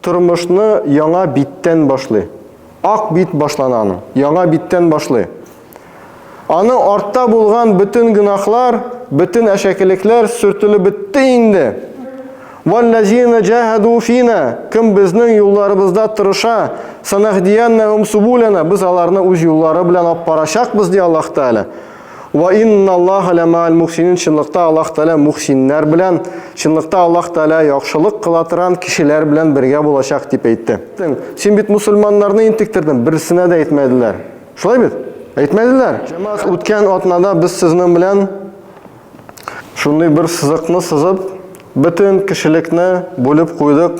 Тормышны яңа биттән башлый. Ак бит башлана аның, яңа биттән башлый. Аның артта булган бөтен гөнаһлар, бөтен әшәкелекләр сөртелеп бетте инде. Валлазина җаһаду фина, кем безнең юлларыбызда тырыша, санаһдияннахум субулана, без аларны үз юллары белән алып барачакбыз, ди Аллаһ Тәгалә. Ва инналлаха ля маал мухсинин чынлыкта Аллаһ Тәгалә мухсиннәр белән, чынлыкта Аллаһ Тәгалә яхшылык кыла торган кешеләр белән бергә булачак дип әйтте. Син бит мусульманнарны интектердең, берсенә дә әйтмәделәр. Шулай бит? Әйтмәделәр. Җәмәгать, үткән атнада без сезнең белән шундый бер сызыкны сызып, бөтен кешелекне бүлеп куйдык.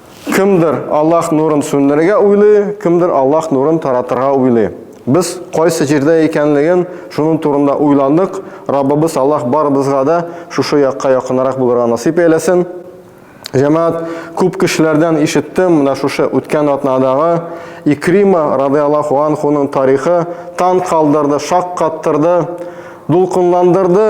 Кемдер Аллаһ нурын сүндерергә уйлый, кемдер Аллаһ нурын таратырга уйлый. Без кайсы җирдә икәнлеген шуның турында уйландык. Раббыбыз Аллаһ барыбызга да шушы якка якынрак булырга насыйп әйләсен. Җәмәгать, күп кешеләрдән ишеттем, менә шушы үткән атнадагы Икрима радиаллаху анхуның тарихы тан калдырды, шаккаттырды, дулкынландырды.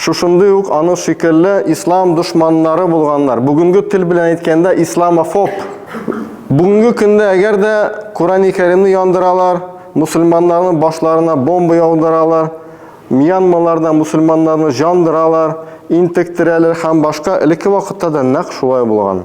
Шушындый ук аның шикелле ислам дошманнары булганнар. Бүгенге тел белән әйткәндә исламофоб. Бүгенге көндә әгәр дә Корани Кәримне яндыралар, мусульманнарның башларына бомба яудыралар, Мьянмаларда мусульманнарны җандыралар, интектерәләр һәм башка элекке вакытта да нәкъ шулай булган.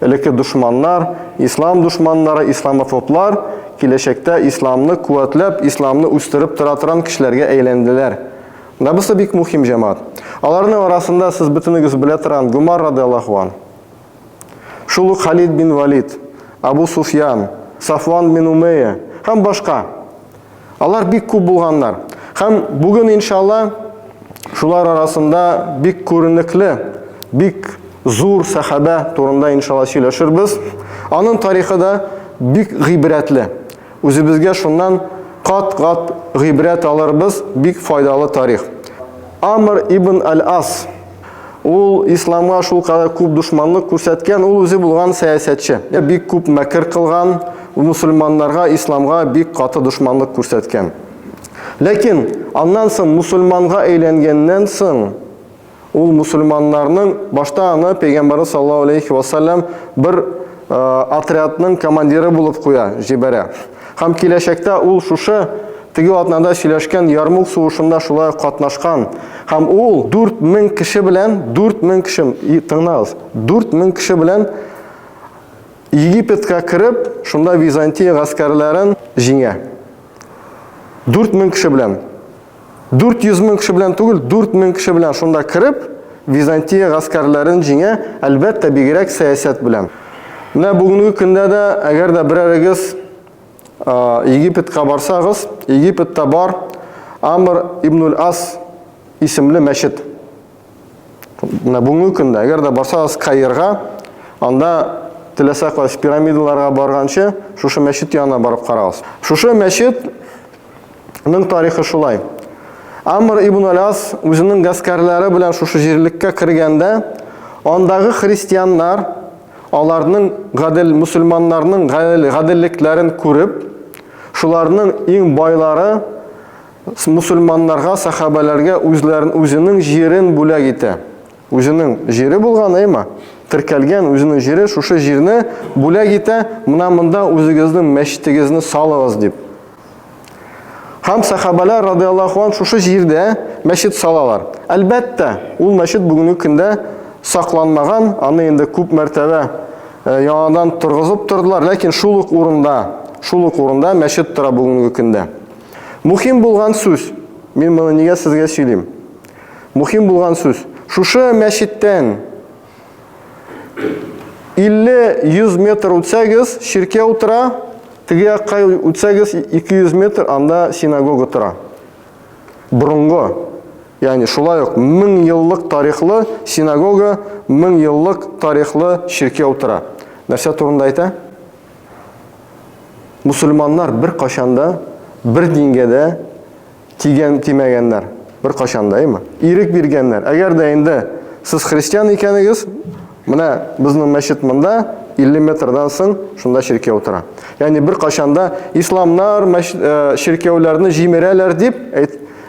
Элекке дошманнар, ислам дошманнары, исламофоблар киләчәктә исламны куәтләп, исламны үстереп тора торган кешеләргә әйләнделәр. Менә бусы бик мухим, җәмәгать. Аларның арасында сез бөтенегез белә торган Гомар радиаллаһу ан. Шул ук Халид бин Валид, Абу Суфьян, Сафван бин Умейя һәм башка. Алар бик күп булганнар. Һәм бүген, иншалла, шулар арасында бик күренекле, бик зур сәхабә турында, иншалла, сөйләшербез. Аның тарихы да бик гыйбрәтле. Үзебезгә шуннан кат-кат гыйбрәт алырбыз, бик файдалы тарих. Амр ибн Аль-Ас Ул исламга шул кадәр күп дошманлык күрсәткән, ул үзе булган сәясәтче. Бик күп мәкер кылган, мусульманнарга, исламга бик каты дошманлык күрсәткән. Ләкин аннан соң мусульманга әйләнгәннән соң, ул мусульманнарның башта аны пәйгамбәрбез саллаллаһу алейһи ва саллям бер отрядның командиры булып куя, җибәрә. Һәм киләчәктә ул шушы теге атнада сөйләшкән Ярмук сугышында шулай катнашкан. Һәм ул 4000 кеше белән, 4000 кеше, тыңлагыз, 4000 кеше белән Египетка кереп, шунда Византия гаскәрләрен җиңә. 4000 кеше белән. 400 мең кеше белән түгел, 4 мең кеше белән шунда кереп, Византия гаскәрләрен җиңә, әлбәттә, бигрәк сәясәт белән. Менә бүгенге көндә дә, әгәр дә берәрегез Египетка барсагыз, Египетта бар Амр ибн-ул-Ас исемле мәчет. Менә бүгенге көндә, әгәр дә барсагыз Каирга, анда теләсә кайсы пирамидаларга барганчы, шушы мәчет янына барып карагыз. Шушы мәчетнең тарихы шулай. Амр ибн Аляс үзенең гаскәрләре белән шушы җирлеккә кергәндә, андагы христианнар аларның гадел мусульманнарның гаделлекләрен күреп, шуларның иң байлары Мусульманнарга, сәхабәләргә үзләрен үзенең җирен бүләк итә. Үзенең җире булган, әйма, теркәлгән үзенең җире, шушы җирне бүләк итә, мына монда үзегезнең мәчетегезне салыгыз дип. Һәм сәхабәләр радиаллаху ан шушы җирдә мәчет салалар. Әлбәттә, ул мәчет бүгенге көндә сакланмаган, аны инде күп мәртәбә э, яңадан торгызып тордылар, ләкин шул ук урында, шул ук урында мәчет тора бүгенге көндә. Мухим булган сүз. Мин моны нигә сезгә сөйлим? Мухим булган сүз. Шушы мәчеттән 50-100 метр үтсәгез, ширкә утыра, теге якка үтсәгез 200 метр, анда синагога тора. Борынгы, ягъни шулай ук 1000 еллык тарихлы синагога, 1000 еллык тарихлы ширкә утыра. Нәрсә турында әйтә? мусульманнар бер кашанда бер дингә дә тигән тимәгәннәр. Бер кашанда, әйме? Ирек биргәннәр. Әгәр дә инде сез христиан икәнегез, менә безнең мәчет монда 50 метрдан соң шунда чиркәү тора. Ягъни бер кашанда исламнар чиркәүләрне җимерәләр дип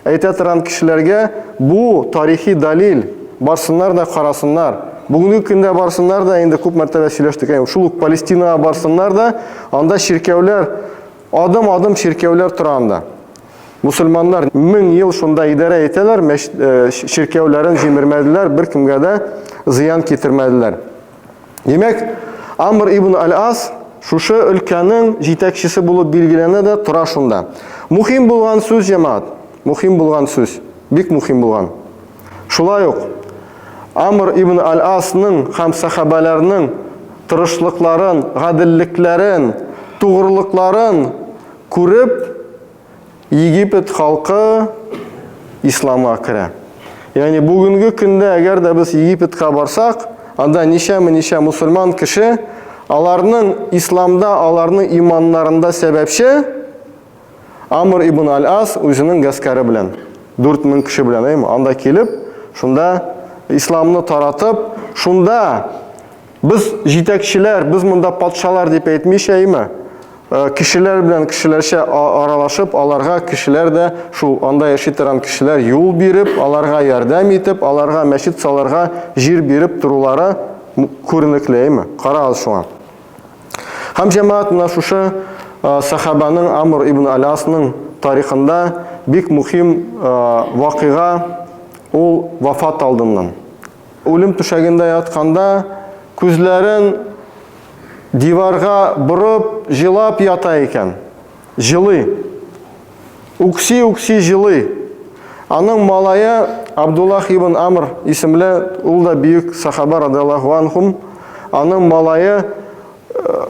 Әйтә торам кешеләргә, бу тарихи дәлил, барсыннар да карасыннар. Бүгенге көндә барсыннар да, инде күп мәртәбә сөйләштек, әйе, шул ук Палестинага барсыннар да, анда чиркәүләр, адым-адым чиркәүләр тора анда. Мусульманнар мең ел шунда идарә итәләр, мәчет, э, чиркәүләрен җимермәделәр, беркемгә дә зыян китермәделәр. Димәк, Амр ибн Аль-Ас шушы өлкәнең җитәкчесе булып билгеләнә дә тора шунда. Мухим булган сүз, җәмаат. Мухим булган сүз. Бик мухим булган. Шулай ук Амр ибн Аль-Асның һәм сәхабәләрнең тырышлыкларын, гаделлекләрен, тугрылыкларын күреп, Египет халкы исламга керә. Ягъни бүгенге көндә әгәр дә без Египетка барсак, анда ничәме ничә мусульман кеше, аларның исламда, аларның иманнарында сәбәпче Амр ибн Аль-Ас үзенең гаскәре белән, 4000 кеше белән, анда килеп, шунда исламны таратып, шунда Без җитәкчеләр, без монда патшалар дип әйтмичәйме? Э, кешеләр белән кешеләрчә аралашып, аларга кешеләр дә шул анда яши торган кешеләр юл биреп, аларга ярдәм итеп, аларга мәчет саларга җир биреп торулары күренеклеме? Карагыз шуңа. Һәм җәмәгать менә шушы э, сахабаның Амр ибн Алясның тарихында бик мөһим э, вакыйга ул вафат алдыннан. Үлем түшәгендә ятканда, күзләрен диварга борып, җылап ята икән. Җылый. Үкси-үкси җылый. Аның малае Абдуллаһ ибн Амр исемле, ул да бөек сахаба радиаллаһу анһум, аның малае,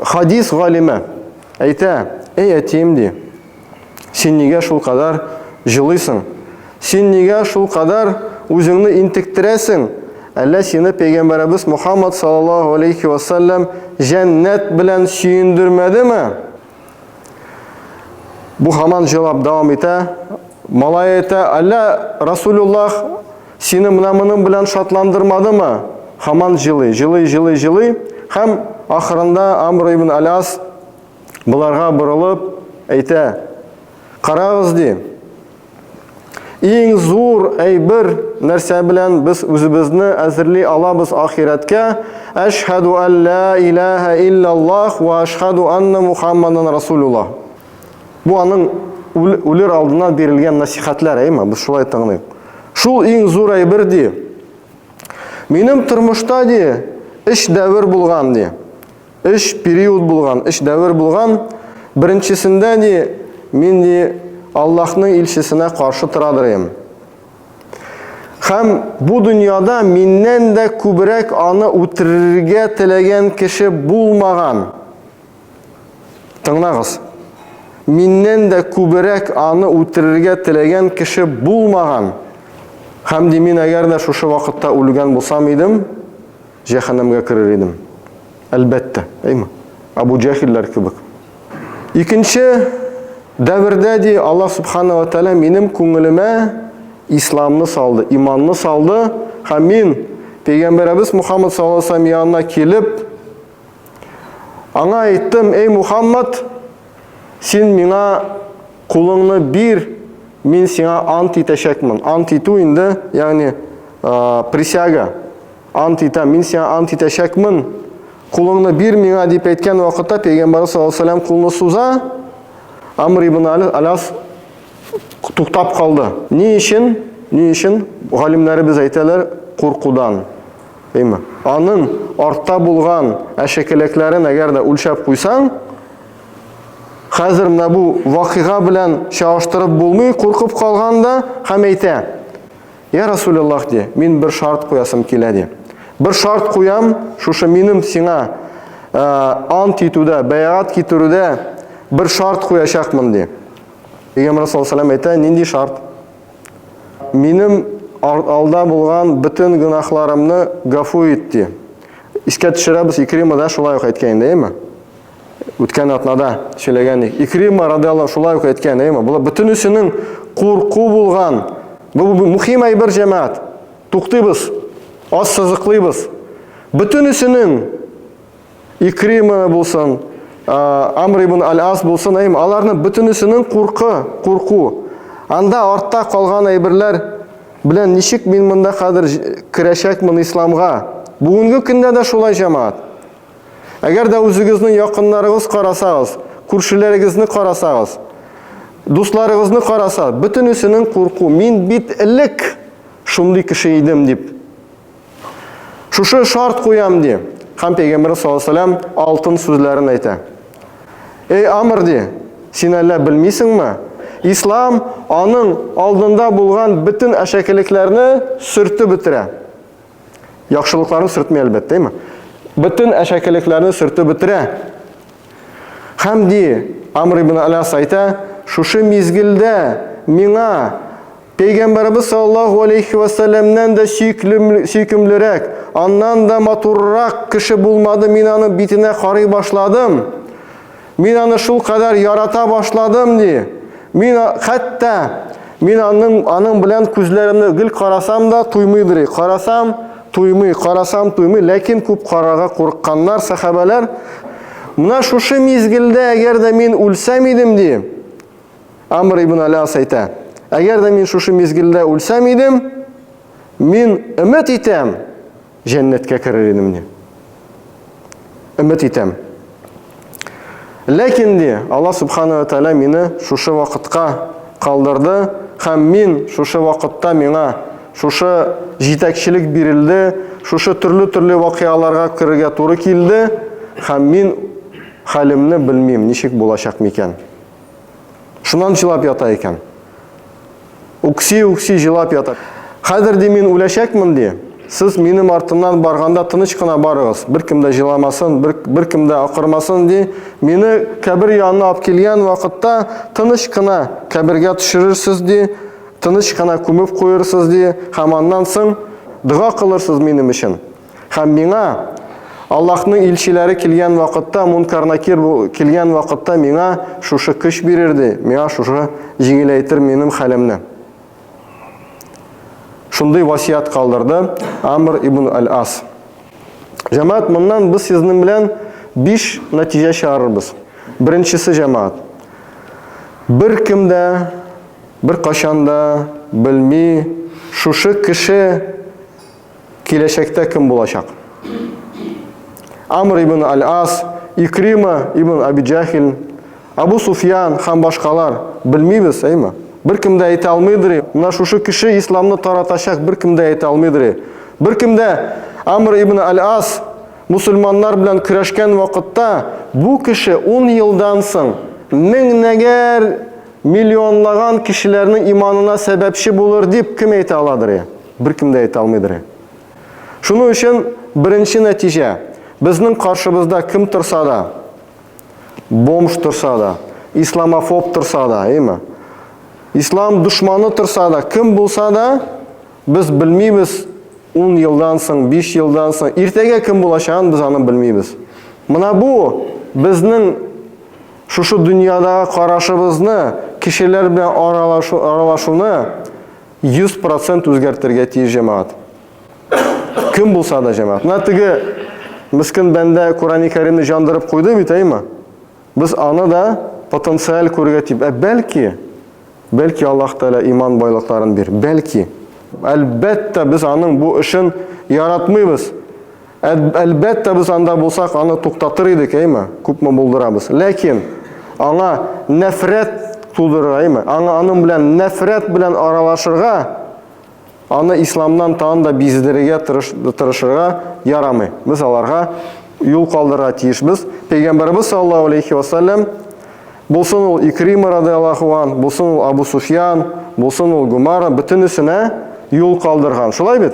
хадис галиме, әйтә, Әй әтием, ди. Син нигә шул кадәр җылыйсың? Син нигә шул кадәр үзеңне интектерәсең? Әллә сине пәйгамбәребез Мухаммад саллаллаһу алейхи ва саллям җәннәт белән сөендермәдеме? Бу хаман җавап дәвам итә. Малай әйтә, әллә Расулуллах сине менә моның белән шатландырмадымы? Хаман җылый, җылый, җылый, җылый. Һәм ахырында Амр ибн Аляс Боларга борылып әйтә, Карагыз, ди, иң зур әйбер нәрсә белән без үзебезне әзерли алабыз ахирәткә, Әшһәду алла илаһа иллаллах ва әшһәду анна Мухаммадан Расулулла. Бу аның үлер алдыннан бирелгән насихәтләр, әйме, без шулай тыңлыйк. Шул иң зур әйбер ди. Минем тормышта ди, эш дәвер булган ди. Өч период булган, өч дәвер булган. Беренчесендә ни, мин ни Аллаһның илчесенә каршы торадырым. Хәм бу дөньяда миннән дә күбрәк аны үтерергә теләгән кеше булмаган. Тыңлагыз. Миннән дә күбрәк аны үтерергә теләгән кеше булмаган. Хәм ди мин әгәр дә шушы вакытта үлгән булсам идем, Җәһәннәмгә керер идем. Әлбәттә, әйме? Абу Җәхилләр кебек. Икенче дәвердә ди Аллаһ субхана ва тәгалә минем күңелемә исламны салды, иманны салды һәм мин пәйгамбәребез Мухаммад саллаллаһу алейһи ва сәлләм янына килеп аңа әйттем, "Эй Мухаммад, син миңа кулыңны бир, мин сиңа ант итәчәкмен. Ант итү инде, ягъни присяга. Ант итәм, мин сиңа ант итәчәкмен, кулыңны бир миңа дип әйткән вакытта пәйгамбәр саллаллаһу алейһи вәсәлләм кулны суза, Амр ибн Аляс туктап калды. Ни өчен? Ни өчен? Галимнәребез әйтәләр, куркудан. Әйме? Аның артта булган әшәкеләкләрен әгәр дә үлчәп куйсаң, хәзер менә бу вакыйга белән чагыштырып булмый, куркып калганда һәм әйтә, Я Расуляллах, ди, мин бер шарт куясым килә, ди. Бер шарт куям, шушы минем сиңа ә, ант итүдә, бәйгат китерүдә бер шарт куячакмын, ди. Пәйгамбер саллаллаху алейһи әйтә, нинди шарт? Минем алда булган бөтен гөнаһларымны гафу ит, ди. Искә төшерәбез, Икрима да шулай ук әйткән инде, әйме? Үткән атнада сөйләгән идек. Икрима радиаллаһу шулай ук әйткән, әйме? Булар бөтенесенең курку булган. Бу мөһим әйбер җәмәгать. Туктыйбыз. Аз сызыклыйбыз. Бөтенесенең Икрима булсын, Амр ибн Аль-Ас булсын, әйме? Аларны бөтенесенең куркы, курку. Анда артта калган әйберләр белән ничек мин монда хәзер керәчәкмен исламга? Бүгенге көндә дә шулай җәмәгать. Әгәр дә үзегезне якыннарыгыз карасагыз, күршеләрегезне карасагыз, дусларыгызны караса, бөтенесенең курку, мин бит элек шундый кеше идем дип. Шушы шарт куям ди. Хәм пәйгамбер саллаллаһу алейһи алтын сүзләрен әйтә. Эй Амр ди, син әллә белмисеңме? Ислам аның алдында булган бөтен әшәкелекләрне сөртеп бетерә. Яхшылыкларын сөртми әлбәттә, әйме? Бөтен әшәкелекләрне сөртеп бетерә. Хәм ди, Амр ибн Аляс әйтә, шушы мизгелдә миңа Пәйгамбәрбез саллаллаху алейхи ва сәлләмнән дә сөйкемлерәк, аннан да матуррак кеше булмады, мин аның битенә карый башладым. Мин аны шул кадәр ярата башладым, ди. Мин хәтта мин аның аның белән күзләремне гел карасам да туймыйдыр. Карасам, туймый, карасам, туймый, ләкин күп карарга курыкканнар сахабәләр. Менә шушы мизгелдә, әгәр дә мин үлсәм идем, ди. Амр ибн Аляс әйтә. Әгәр дә мин шушы мизгелдә үлсәм идем, мин өмет итәм, Җәннәткә керер идем, ди. Өмет итәм. Ләкин, ди, Алла Субхана ва Тәлә мине шушы вакытка калдырды, хәм мин шушы вакытта миңа шушы җитәкчелек бирелде, шушы төрле-төрле вакыяларга керергә туры килде, хәм мин хәлемне белмим, ничек булачак микән. Шуннан җылап ята икән. Үкси-үкси җылап ятып. Хәзер, ди, мин үләчәкмен, ди. Сез минем артымнан барганда тыныч кына барыгыз. Беркем дә җыламасын, бер, беркем дә акырмасын, ди. Мине кабер янына алып килгән вакытта тыныч кына кабергә төшерерсез, ди. Тыныч кына күмеп куерсыз, ди. Һәм аннан соң дога кылырсыз минем өчен. Һәм миңа Аллаһның илчеләре килгән вакытта, мункарнакир килгән вакытта миңа шушы көч бирерде, миңа шушы җиңеләйтер минем хәлемне. Шундый васият калдырды Амр ибн Аль-Ас. Җәмәгать, моннан без сезнең белән 5 нәтиҗә чыгарырбыз. Беренчесе җәмәгать. Бер кем дә бер кашанда белми шушы кеше Киләчәктә кем булачак? Амр ибн Аль-Ас, Икрима ибн Абиджахил, Абу Суфьян һәм башкалар. Белмибез, әйме? Бер кем дә әйтә алмыйдыр. Менә шушы кеше исламны таратачак, бер кем дә әйтә алмыйдыр. Бер кем дә Амр ибн Аль-Ас мусульманнар белән көрәшкән вакытта бу кеше 10 елдан соң меңнәгәр миллионлаган кешеләрнең иманына сәбәпче булыр дип кем әйтә аладыр? Беркем дә әйтә алмыйдыр. Ә. Шуның өчен беренче нәтиҗә, безнең каршыбызда кем торса да, бомж торса да, исламофоб торса да, әйме? Ислам душманы торса да, кем булса да, без белмибез 10 елдан соң, 5 елдан соң, иртәгә кем булачагын без аны белмибез. Мына бу безнең шушы дөньядагы карашыбызны, кешеләр белән аралашу, аралашуны Йөз процент үзгәртергә тиеш җәмәгать. Кем булса да җәмәгать. Менә теге мискен бәндә Корани Кәримне җандырып куйды бит, әйме? Без аны да потенциаль күрергә тип. Ә бәлки, бәлки Аллаһ Тәгалә иман байлыкларын бир. Бәлки. Әлбәттә, без аның бу эшен яратмыйбыз. Әлбәттә, без анда булсак, аны туктатыр идек, әйме? Күпме булдырабыз. Ләкин аңа нәфрәт тудырыр, әйме? Аңа аның белән нәфрәт белән аралашырга, аны исламнан тагын да биздерергә тырышырга ярамый. Без аларга юл калдырырга тиешбез. Пәйгамбәрбез саллаллаһу алейхи ва саллям булсын ул Икрима радиаллаһу ан, булсын ул Абу Суфьян, булсын ул Гумара, бөтенесенә юл калдырган. Шулай бит?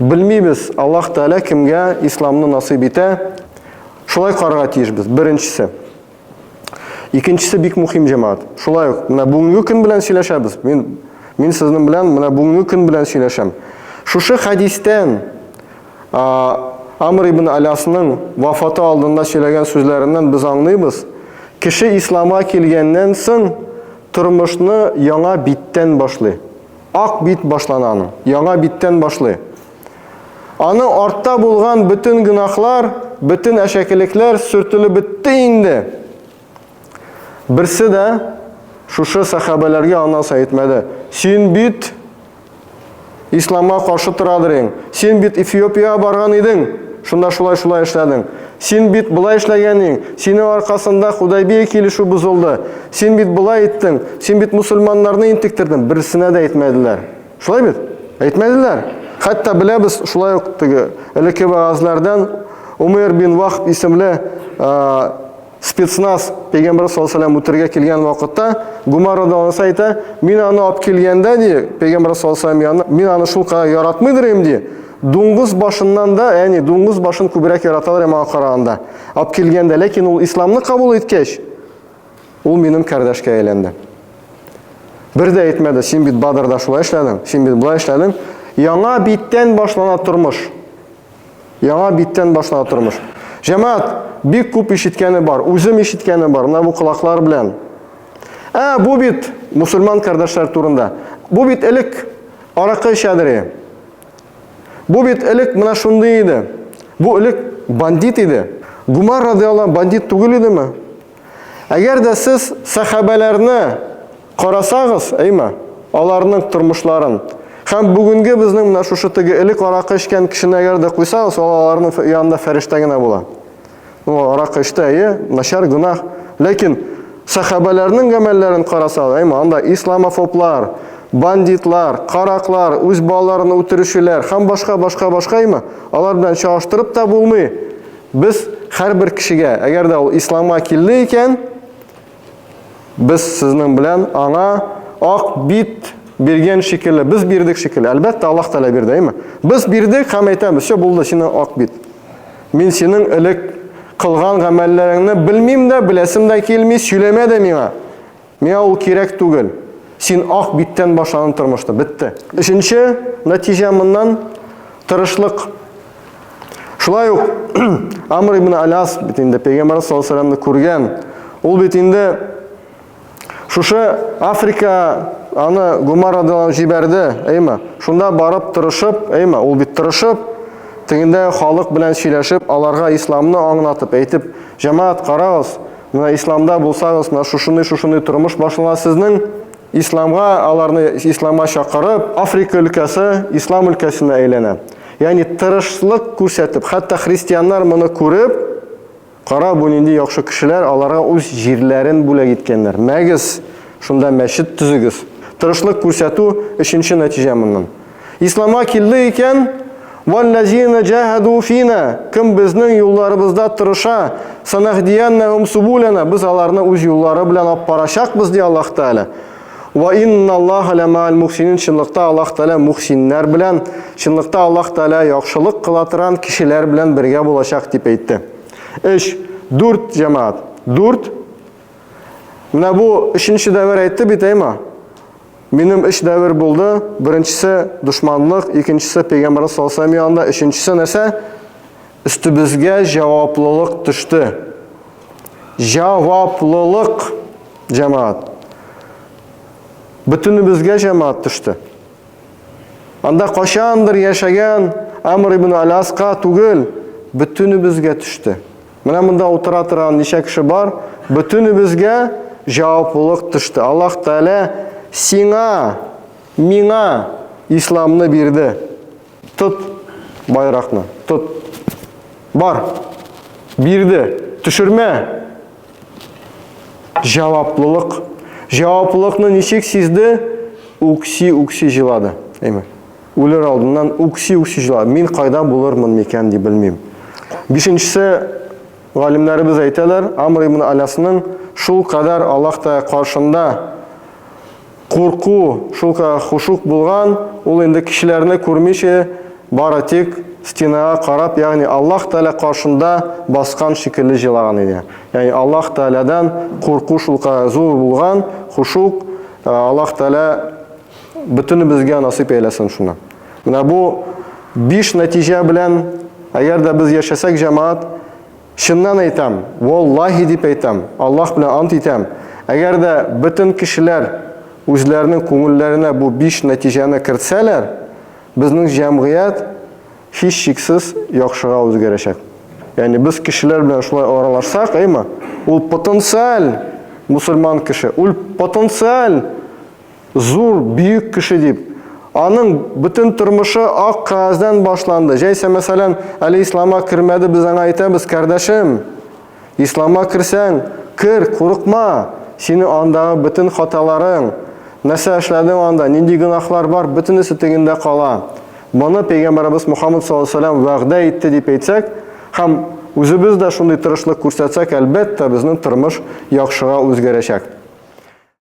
Белмибез, Аллаһ Тәгалә кемгә исламны насыйп итә, шулай карарга тиешбез. Беренчесе. Икенчесе бик мөһим җәмәгать. Шулай ук менә бүгенге көн белән сөйләшәбез. Мин мин сезнең белән менә бүгенге көн белән сөйләшәм. Шушы хәдистән Амр ибн Алясның вафаты алдында сөйләгән сүзләреннән без аңлыйбыз, кеше исламга килгәннән соң тормышны яңа биттән башлый. Ак бит башлана аның. Яңа биттән башлый. Аны артта булган бөтен гынахлар, бөтен әшәкелекләр сөртелеп бетте инде. Берсе дә шушы сахабәләргә ана сайтмәде. Син бит исламга каршы торадыр ең. Син бит Эфиопия барган идең. Шунда шулай-шулай эшләдең. Син бит болай эшләгән иң, синең аркасында Худайбия килешү бозылды, син бит болай иттең, син бит мусульманнарны интектердең, берсенә дә әйтмәделәр. Шулай бит? Әйтмәделәр. Хәтта беләбез, шулай ук теге элекке вәгазьләрдән Умейр бин Вахб исемле спецназ пәйгамбәр саллаллаху алейһи үтергә килгән вакытта Гумар радиаллаһу әйтә, мин аны алып килгәндә ди, пәйгамбәр саллаллаху алейһи аны, мин аны шул кадәр яратмыйдыр идем ди, Дуңгыз башыннан да, яни дуңгыз башын күбрәк яраталар һәм аңа караганда. Алып килгәндә, ләкин ул исламны кабул иткәч, ул минем кардәшкә әйләнде. Бер дә әйтмәде, син бит Бадрда шулай эшләдең, син бит болай эшләдең. Яңа биттән башлана тормыш. Яңа биттән башлана тормыш. Җәмәгать, бик күп ишеткәне бар, үзем ишеткәне бар, менә бу колаклар белән. Ә, бу бит мусульман кардәшләр турында. Бу бит элек аракы эчәдер. Бу бит элек менә шундый иде. Бу элек бандит иде. Гумар радиалла бандит түгел идеме? Әгәр дә сез сәхабәләрне карасагыз, әйме, аларның тормышларын, һәм бүгенге безнең менә шушы теге элек аракы эчкән кешене әгәр дә куйсагыз, аларның янында фәрештә генә була. Ну, аракы эчте, әйе, начар гөнаһ. Ләкин сәхабәләрнең гамәлләрен карасак, әйме, анда исламофоблар, бандитлар, караклар, үз балаларын үтерүчеләр һәм башка башка башка әйме, алар белән чагыштырып та булмый. Без һәрбер кешегә, әгәр дә ул исламга килде икән, Без сезнең белән аңа ак бит биргән шикелле, без бирдек шикелле. Әлбәттә, Аллаһ Тәгалә бирде, әйме? Без бирдек һәм әйтәбез, все булды, сине ак бит. Мин синең элек кылган гамәлләреңне белмим дә, беләсем дә килми, сөйләмә дә миңа. Миңа ул кирәк түгел. Син ак биттән башланып тормышты, бетте. Өченче нәтиҗә моннан тырышлык Шулай ук Амр ибн Аляс бит инде пәйгамбәр саллаллаху алейһи күргән. Ул бит инде шушы Африка аны Гумар радиалан җибәрде, әйме? Шунда барып тырышып, әйме? Ул бит тырышып, тегендә халык белән сөйләшеп, аларга исламны аңлатып, әйтеп, җәмәгать карагыз, менә исламда булсагыз, менә шушыны шушыны тормыш башлана сезнең. Исламга аларны исламга чакырып, Африка өлкәсе ислам өлкәсенә әйләнә. Ягъни тырышлык күрсәтеп, хәтта христианнар моны күреп, кара бу нинди яхшы кешеләр, аларга үз җирләрен бүләк иткәннәр. Мәгез, шунда мәчет төзегез. Тырышлык күрсәтү өченче нәтиҗә моннан. Исламга килде икән, валлазина җаһаду фина, кем безнең юлларыбызда тырыша, санаһдияннахум субулана, без аларны үз юллары белән алып барачакбыз, ди Аллаһ Тәгалә. Ва инналлаха ля маал мухсинин чынлыкта Аллаһ Тәгалә мухсиннәр белән, чынлыкта Аллаһ Тәгалә яхшылык кыла торган кешеләр белән бергә булачак дип әйтте. 3. 4 җәмәгать. 4. Менә бу өченче дәвер әйтте бит, әйма. Минем өч дәвер булды. Беренчесе дошманлык, икенчесе пәйгамбәр саллаллаһу алейһи янында, өченчесе нәрсә? Өстебезгә җаваплылык төште. Җаваплылык, җәмәгать. Бөтенебезгә җәмәгать төште. Анда качандыр яшәгән Амр ибн Аляска түгел, бөтенебезгә төште. Менә монда утыра торган ничә кеше бар, бөтенебезгә җаваплылык төште. Аллаһ Тәгалә сиңа, миңа исламны бирде. Тот байракны. Тот. Бар. Бирде. Төшермә. Җаваплылык. Җаваплылыкны ничек сизде? Үкси-үкси җылады. Әйме. Үлер алдыннан үкси-үкси җылады. Мин кайда булырмын микән дип белмим. Бишенчесе галимнәребез әйтәләр, Амр ибн Алясның шул кадәр Аллаһ Тәгалә каршында Курку, шулкадәр хушук булган, ул инде кешеләрне күрмичә, бары тик стенага карап, ягъни Аллаһ Тәгалә каршында баскан шикелле җылаган иде. Ягъни Аллаһ Тәгаләдән курку шулкадәр зур булган, хушук, Аллаһ Тәгалә бөтенебезгә насыйп әйләсен шуны. Менә бу биш нәтиҗә белән, әгәр дә без яшәсәк, җәмәгать, Чыннан әйтәм, валлаһи дип әйтәм, Аллаһ белән ант итәм, әгәр дә бөтен кешеләр үзләренең күңелләренә бу биш нәтиҗәне кертсәләр, безнең җәмгыять һичшиксез яхшыга үзгәрәчәк. Ягъни без кешеләр белән шулай аралашсак, әйме, ул потенциаль мусульман кеше, ул потенциаль Зур, бөек кеше дип. Аның бөтен тормышы ак кәгаздән башланды. Җәйсә, мәсәлән, әле ислама кермәде, без аңа әйтәбез, кардәшем, ислама керсәң, кер, курыкма, синең андагы бөтен хаталарың, нәрсә эшләдең анда, нинди гөнаһлар бар, бөтенесе тегендә кала. Моны пәйгамбәребез Мухаммад саллаллаһу галәйһи ва сәлләм вәгъдә итте дип әйтсәк һәм үзебез дә шундый тырышлык күрсәтсәк, әлбәттә, безнең тормыш яхшыга үзгәрәчәк.